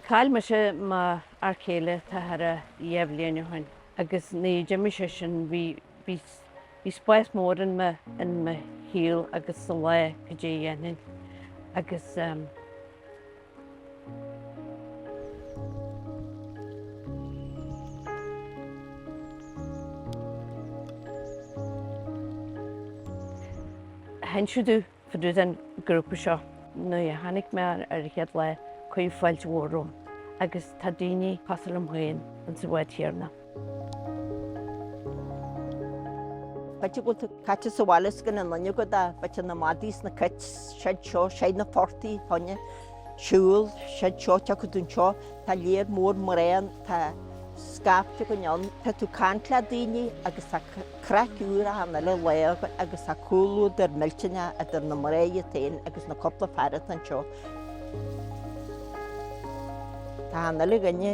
Chaill mise m'fhear céile tá thaire dheich mbliana ó shin agus nuair a d'imigh seisean bhí bhí spás mór in mo in mo shaol agus sa lá goidé a dhéanfainn agus. Tháinig Siúdú fá dtaobh den ghrúpa seo. Nuair a tháinig mé ar an chéad lá, cuireadh fáilte mhór romham, agus tá daoine cosúil liom féin insa bhád chéanna. B'fhéidir go bhfuil caite sa bhaile is gan aon nduine agat ach b'fhéidir na madaí is na cait, seo anseo, siad na portaigh, fáinne, siúl, seo anseo, tiocfaidh tú anseo, tá lear mór mná ann, tá scaifte againn ann, tá tú ag caint le daoine agus tá craic úr achan uile lá agat agus tá comhluadar millteanach idir na mná iad féin agus na cúpla fear atá anseo. Tá achan uile dhuine.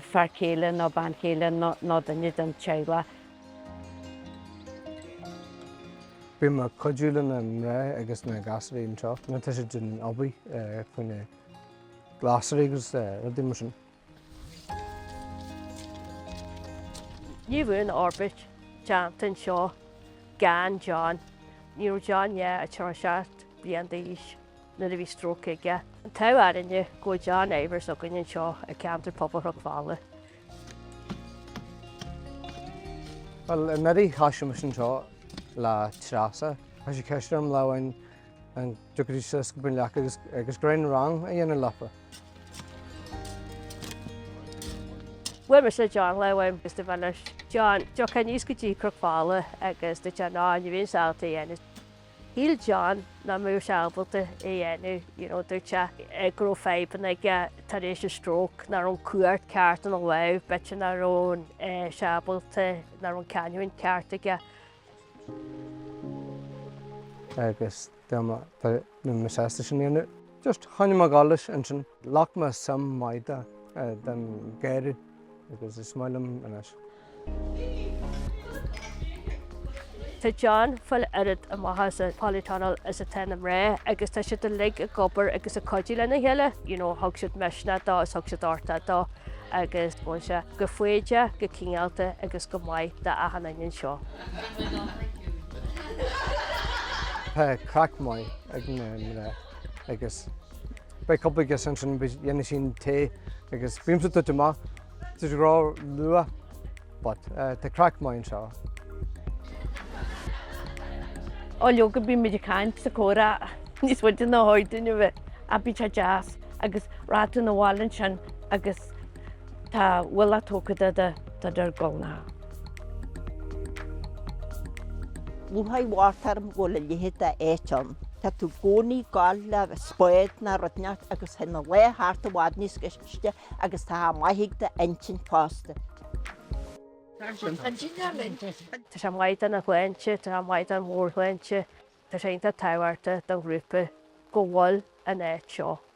fear céile nó bean chéile nó duine den teaghlach. Bím ag cuidiú le na mná agus na gasúraí anseo nuair atá siad ag obair faoi na glasraí agus rudaí mar sin. Ní bheadh an fhorbairt déanta anseo gan John. Ní raibh John ach 37 bliain d'aois. nuair a bhí stróc aige. An t-ádh againne go bhfuil John Ivers againn anseo i gceantar pobail Chnoc Fola. Bhuel, i ndiaidh casadh mise anseo le Treasa. Chuir sí ceist orm lá amháin an dtiocfainn isteach in éineacht leofa agus, agus cineál rang a dhéanamh leofa. Bhuail mise le John lá amháin agus dúirt mé leis John, an dtiocfá aníos go dtí Cnoc Fola agus dúirt John, ní bheinn ábalta a dhéanamh. Shíl John nach mbeadh sé ábalta é a dhéanamh, you know, dúirt sé go raibh fadhbanna aige tar éis a stroke, nach raibh an cuairt ceart ina lámh, b'fhéidir nach raibh sé ábalta, nach raibh an canúint ceart aige. Agus dá mba, dá mbeinn mise sásta sin a dhéanamh, just, choinnigh mé ag gabháil leis ansin, ghlac mé suim mhaith de, den, gairid. Agus is maith liom anois. Tá John ag fáil oiread de mhaitheas an polytunnel is atá na mná agus tá siad uilig ag obair agus ag cuidiú lena chéile, you know thug siad misneach dó is thug siad uchtach dó agus bíonn sé go foighdeach, go cineálta agus go maith d'achan nduine anseo. Tá craic maith ag na mná agus Beidh cúpla agus ansin dhéanfaidh sí an tae agus bímse duit amach. Tá sé go breá luath but tá craic maith anseo. Ó leoga bímid ag caint is ag comhrá níos faide ná ba chóir dúinn a bheith, but tá sé deas agus rachaidh tú 'na bhaile ansin agus Tá ualach tógtha de de de de ár nguailne. Lúcháir mhór orm go bhfuil a leithéid de áit ann. Tá tú i gcónaí ag gabháil le spáid nó rud inteacht agus thig na laethe thart i bhfad níos gaiste agus tá sé maith ag d'intinn fosta. Tá sé maith don tsláinte, tá sé maith don mheabhairshláinte, tá sé iontach tábhachtach don ghrúpa go bhfuil an áit seo.